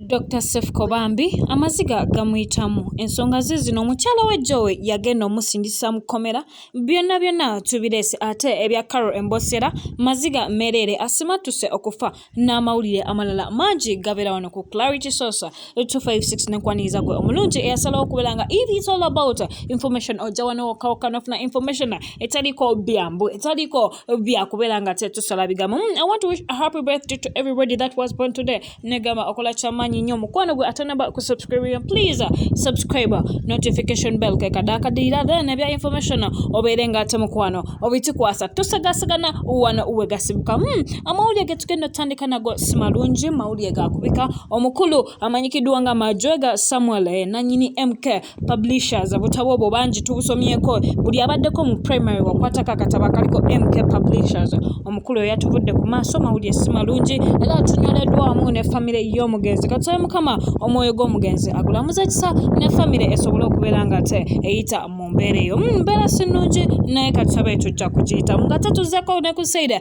Dokita Sefuko bambi amaziga gamuyitamu ensonga ze zino omukyala wa Joe yagenda omusindisa mu kkomera byonna byonna tubireese ate ebya Carol Embosera maziga mereere asimattuse okufa n'amawulire amalala mangi gabeera wano ku Clarity Source 256 nenkwaniriza gwe omulungi eyasalawo okubeera nga it is all about information ojja wano wokawokka nofuna information etaliiko byambu etaliiko byakubeera nga tetusala bigambo hmm, I want to wish a happy birthday to everybody that was born today negamba okola kyamanyi nnyo mukwano gwe atanaba kusubscribe please subscribe notification bell kekadakadiira then ebya information obeere nga ate mukwano obitikwasa tusagasagana wano wegasibuka mm, amawulire getugenda otandika nago simalungi mawulire gakubika omukulu amanyikiddwa nga majwega samuel eh, nanyini mk publishers obutabo obwo bangi tubusomyeko buli abaddeko mu primary wakwatako akatabo akaliko mk publishers omukulu oyo yatuvudde ku maaso mawulire si malungi era atunyoleddwamu ne famire y'omugenzi katusabe mukama omwoyo gw'omugenzi agulamuza kisa ne famire esobole okubeera nga te eyita mu mbeera eyo hmm, mbeera si nnungi naye katusabe tujja kugiyitamu nga tatuzeko ne ku saida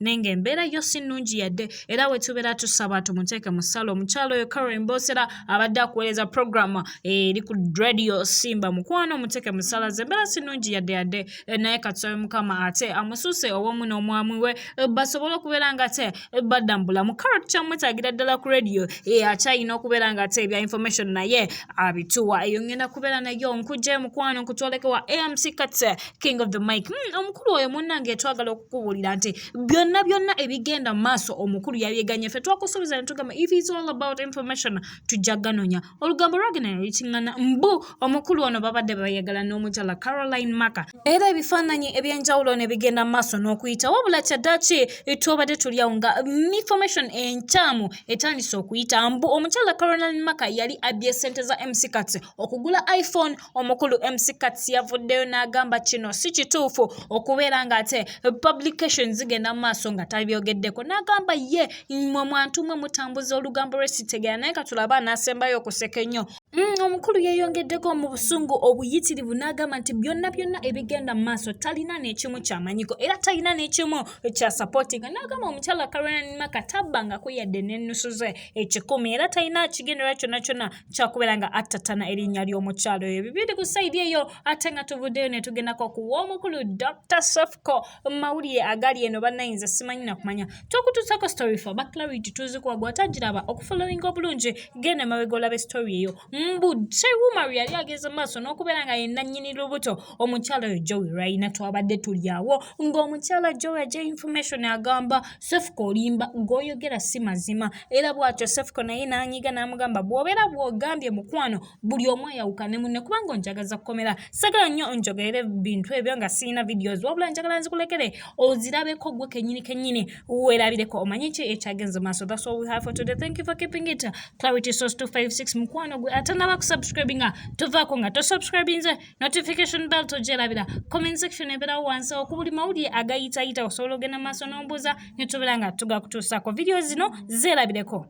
naye ng'embeera yo si nnungi yadde era wetubeera tusaba tumuteeke mu ssala omukyalo oyo karen bosera abadde akuweereza programu eh, eri ku radio simba mukwano omuteeke mu ssala ze embeera si nnungi yadde yadde eh, naye katusabe mukama ate amusuuse owomu n'omwami we eh, basobole okubeera nga te badda mu bulamu karo tukyamwetaagira ddala ku radio akyayina okubeera nga te ebya information naye abituwa eyo ngenda kubeera nayo nkujje mukwano nkutwoleke wa amc kate king of the mic mm, omukulu oyo munnange twagala okukubuulira nti byonna byonna ebigenda mu maaso omukulu yabyeganye ffe twakusuubiza ne tugamba if is all about information tujja ganonya olugambo lwagenda ne lukiŋŋana mbu omukulu ono babadde bayagala n'omukyala caroline maka era ebifaananyi eby'enjawulo ne bigenda mu maaso n'okuyita wabula kyaddaki twobadde tuli awo nga information enkyamu etandise okuyita mbu omukyala caroline maka yali abbye ssente za mc kats okugula iphone omukulu mc kats yavuddeyo n'agamba kino si kituufu okubeera nga ate publication zigenda mu maaso nga tabyogeddeko n'agamba ye mwe mwantu mwe mutambuza olugambo lwesitegera naye katulaba anaasembayo okuseka ennyo mm, omukulu yeeyongeddeko mu busungu obuyitirivu n'agamba nti byonna byonna ebigenda mu maaso talina n'ekimu kyamanyiko era talina n'ekimu kya sapotinga n'agamba omukyala karonan maka tabbangako yadde n'ennusu ze ekikumi era talina kigendera kyonna kyonna kyakubeera nga attatana erinnya ly'omukyalo oyo bibindi ku saidi eyo ate nga tuvuddeyo ne tugendako ku w'omukulu dr sofco mawulire agali eno bannayinza simanyi nakumanya tokutuusako story fa baclarity tuzikuwa gwatagiraba okufollowinga obulungi genda emabega olabe story eyo mbu jewumar yali ageze maaso n'okubeera nga yenna nnyini lubuto omukyalo oyo jowi rayina twabadde tulyawo ng'omukyala jowi aja information agamba sefuka olimba goyogera si mazima era bwatyo sefuka naye nanyiga namugamba bwobera bwogambye mukwano buli omu ayawukane munne kubanga onjagaza kukomera sagala nnyo onjogerere bintu ebyo nga siyina videos wabula njagala nzikulekere ozirabeko gwe kenyini kenyini werabireko omanye ki ekyagenze maaso that's all we have for today thank you for keeping it clarity source 256 mukwano gwe atanaba kusubscribinga tuvaako nga tosubscribinze notification bell togyerabira comment section ebeerawo wansi oku buli mawulire agayitayita osobola ogenda mu maaso n'ombuuza ne tubeera nga tugakutuusaako vidiyo zino zeerabireko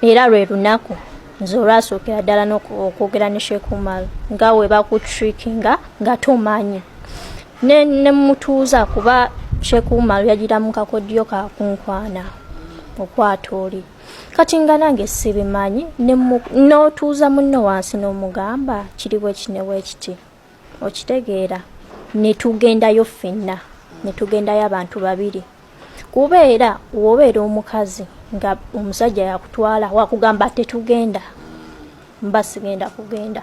era lwe lunaku nze olwasookera ddala nokwogera ne shekumal nga we bakutrikinga nga tomanyi ne mutuuza kuba shekumal yagira mu kakodyo kakunkwana okwata oli kati nga nange sibimanyi n'otuuza munno wansi n'omugamba kiri bwekiti ne bwekiti okitegeera ne tugendayo ffenna ne tugendayo abantu babiri kuba era wobeera omukazi nga omusajja yakutwala wakugamba tetugenda mba sigenda kugenda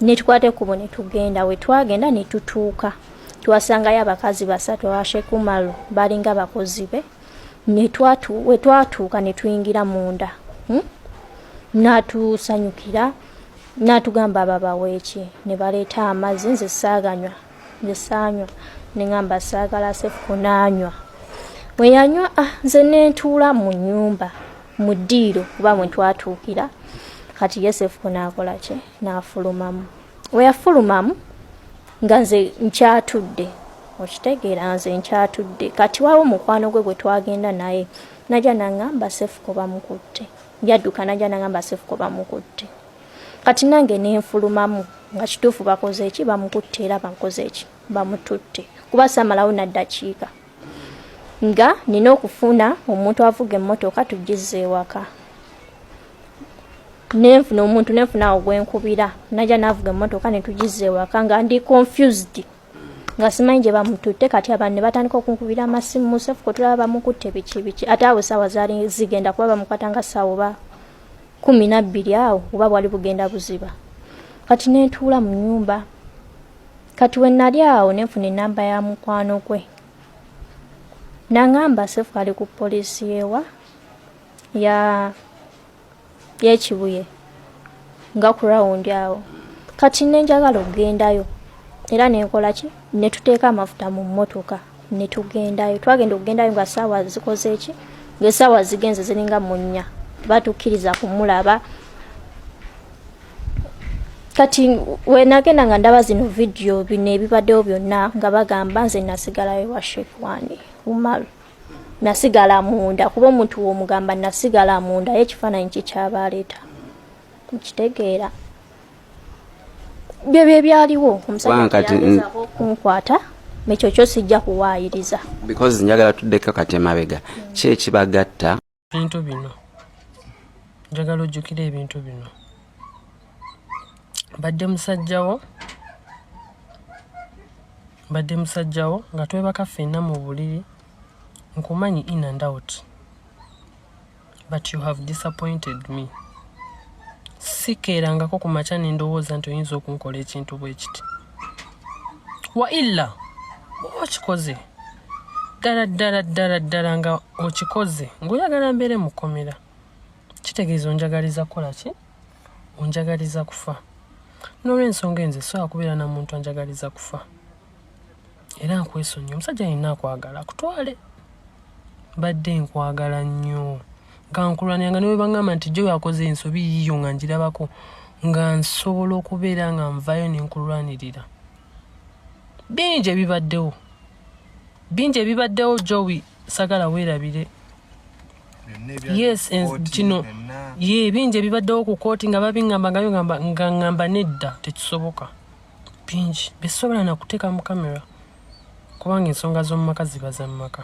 netukwata ekkubo ne tugenda we twagenda ne tutuuka twasangayo abakazi basatu abashekumalu balinga bakozi be wetwatuuka netuyingira munda hmm? natusanyukira natugamba ababaweeki nebaleeta amazzi nze saaganywa nze saanywa nengamba saagala sefuku naanywa weyanywa ah, nze nentuula mu nyumba mu ddiiro kuba mwetwatuukira kati yosefu naakola ki naafulumamu weyafulumamu nga nze nkyatudde okitegeera nze nkyatudde kati wawo mukwano gwe gwe twagenda naye naja nangamba sefuko bamukutte yadduka naja nangamba sefuko bamukutte kati nange nenfulumamu nga kituufu bakoze eki bamukutte era bankoze eki bamututte kuba samalawo naddakiika nga nina okufuna omuntu avuga emmotoka tugizza ewaka nenfuna omuntu nenfuna awo gwenkubira naja navuga emmotoka netugizza ewaka nga ndi confused nga simanyi gye bamututte kati abantu ne batandika okunkubira amasimu musefu kotulaba bamukutte biki biki ate awo saawa zaali zigenda kuba bamukwata nga saawa oba kumi nabbiri awo oba bwali bugenda buziba kati nentuula mu nyumba kati we nali awo ne nfuna enamba ya mukwano gwe nangamba sefu ali ku polisi yewa ya yekibuye nga ku rawundi awo kati nenjagala okugendayo era nenkola ki netuteeka amafuta mu mmotoka ne tugendayo twagenda okugendayo nga saawa zikoze eki ngaesaawa zigenze ziringa munya batukkiriza kumulaba kati wenagenda nga ndaba zino vidiyo bino ebibaddewo byonna nga bagamba nze nasigalayo wa shekwani umaru nasigala munda kuba omuntu womugamba nasigala munda ye ekifaananyi kikyabaaleeta mukitegeera bye bye byaliwo omusajjaokunkwata nekyo kyo sijja kuwaayiriza because njagala tuddeko kati emabega ki ekibagatta ebintu bino njagala ojjukira ebintu bino mbadde musajjawo mbadde musajjawo nga twebaka ffenna mu buliri nkumanyi in and out but you have disappointed me sikeerangako ku makya ne ndowooza nti oyinza okunkola ekintu bwe kiti wa illa oba okikoze ddala ddala ddala ddala nga okikoze ng'oyagala mbeere mu kkomera kitegeeza onjagaliza kukola ki onjagaliza kufa n'olwensonga enze sobola kubeera na muntu anjagaliza kufa era nkwesonyiwa omusajja yenna akwagala akutwale mbadde nkwagala nnyo nga nkulwanira nga newe bangamba nti jo yakoze ensobi yiyo nga njirabako nga nsobola okubeera nga nvayo nenkulwanirira bingi ebibaddewo bingi ebibaddewo jowi sagala weerabire yes kino ye bingi ebibaddewo ku kooti nga babingamba nga ngamba nedda tekisoboka bingi byesobola nakuteeka mu kamera kubanga ensonga z'omumaka ziba za mumaka